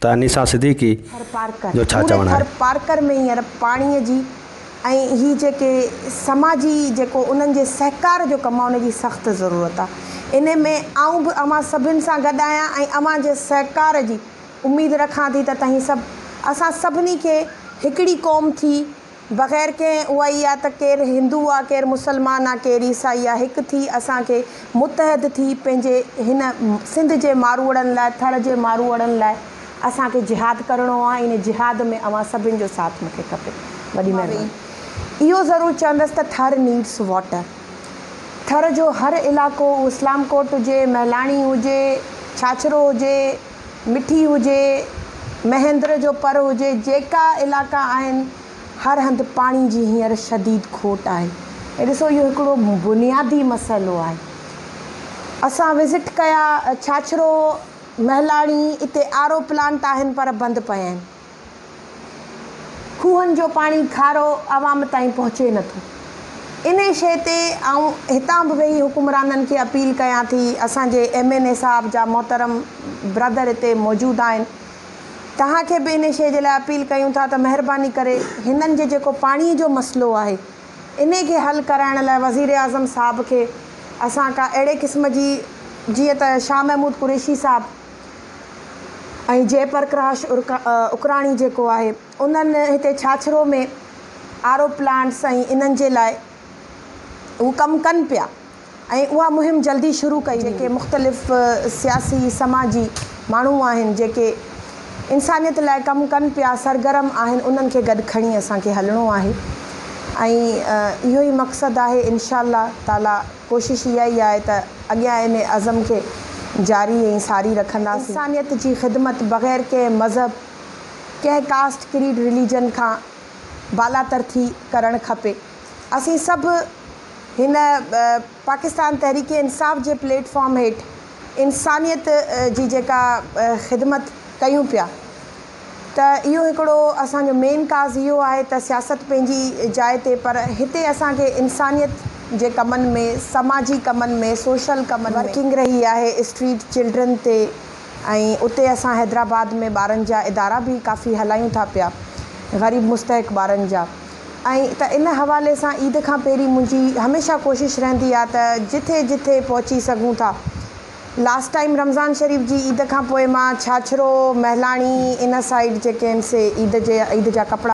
ته انيسا صديقي جو ڇا چوڻ آهي؟ ٿر پارڪر ۾ هينئر پاڻي جي ۽ هي جيڪي سماجي جيڪو انهن جي سهڪار جو ڪم آهي ان جي سخت ضرورت آهي انهي ۾ آئون به اوهان سڀن سان گڏ آهيان ۽ اوهان جي سهڪار جي اميد رکان ٿي ته تهين سڀ اسان سڀني کي هڪڙي قوم ٿي بغير ڪنهن اها ئي آ ته ڪير هندو آ ڪير مسلمان آ ڪير عيسائي آ هڪ ٿي اسان کي متحد ٿي پنهنجي هن سنڌ جي ماروئڙن لاء ٿر جي ماروئڙن لاء اسان کي جهاد ڪرڻو آ ان جهاد ۾ اوهان سڀن جو ساٿ مونکي کپي وڏي مهرباني اهو ضرور چوندس ته ٿر نيڊس واٽر ٿر جو هر علائقو اسلام ڪوٽ هجي مهلاڻي هجي ڇاڇرو هجي مٺي هجي، مهندر جو پر هجي جيڪا علائقا آهن هر هنڌ پاڻي جي هينئر شديد کوٽ آهي ۽ ڏسو اهو هڪڙو بنيادي مسئلو آهي اسان وزٽ ڪيا ڇاڇرو، مهلاڻي اتي آر او پلانٽ آهن پر بند پيا آهن. کوهن جو پاڻي کارو عوام تائين پهچي نه ٿو. انهي شيء تي آئون هتان به ويهي حڪمرانن کي اپيل ڪيان ٿي، اسان جي ايم اين اي صاحب جا محترم برادر هتي موجود آهن، توهان کي به انهي شيء جي لاء اپيل ڪيون ٿا ته مهرباني ڪري هنن جي جيڪو پاڻي جو مسئلو آهي، انهي کي حل ڪرائڻ لاء وزيراعظم صاحب کي اسان ڪا اهڙي قسم جي جيئن ته شاهه محمود قريشي صاحب، ۽ جئه پرڪراش اڪراڻي جيڪو آهي انهن هتي ڇاڇرو ۾ آر او پلانٽس ۽ انهن جي لاء هو ڪم ڪن پيا ۽ اها مهم جلدي شروع ڪئي جيڪي مختلف سياسي سماجي ماڻهو آهن جيڪي انسانيت لاء ڪم ڪن پيا سرگرم آهن انهن کي گڏ کڻي اسان کي هلڻو آهي ۽ اهو ئي مقصد آهي انشاء الله تعالي ڪوشش اها ئي آهي ته اڳيان ان عزم کي جاري ۽ ساري رکنداسين. انسانيت جي خدمت بغير ڪنهن مذهب، ڪنهن ڪاسٽ ڪريڊ رليجن کان بالاتر ٿي ڪرڻ کپي. اسين سڀ هن پاڪستان تحريڪ انصاف جي پليٽ فارم هيٺ انسانيت جي جيڪا خدمت ڪيون پيا ته اهو هڪڙو اسان جو مين ڪاز اهو آهي ته سياست پنهنجي جاء تي پر هتي اسان کي انسانيت جي ڪمن ۾ سماجي ڪمن ۾ سوشل ڪمن ۾ ورڪنگ رهي آهي اسٽريٽ چلڊرن تي ۽ اتي اسان حيدرآباد ۾ ٻارن جا ادارا به ڪافي هلايون ٿا پيا غريب مستحق ٻارن جا ۽ ته ان حوالي سان عيد کان پهرين منهنجي هميشه ڪوشش رهندي آهي ته جٿي جٿي پهچي سگهون ٿا لاسٽ ٽائيم رمضان شريف جي عيد کان پوء مان ڇاڇرو مهلاڻي ان سائيڊ جيڪي آهن سي عيد جي عيد جا ڪپڙا.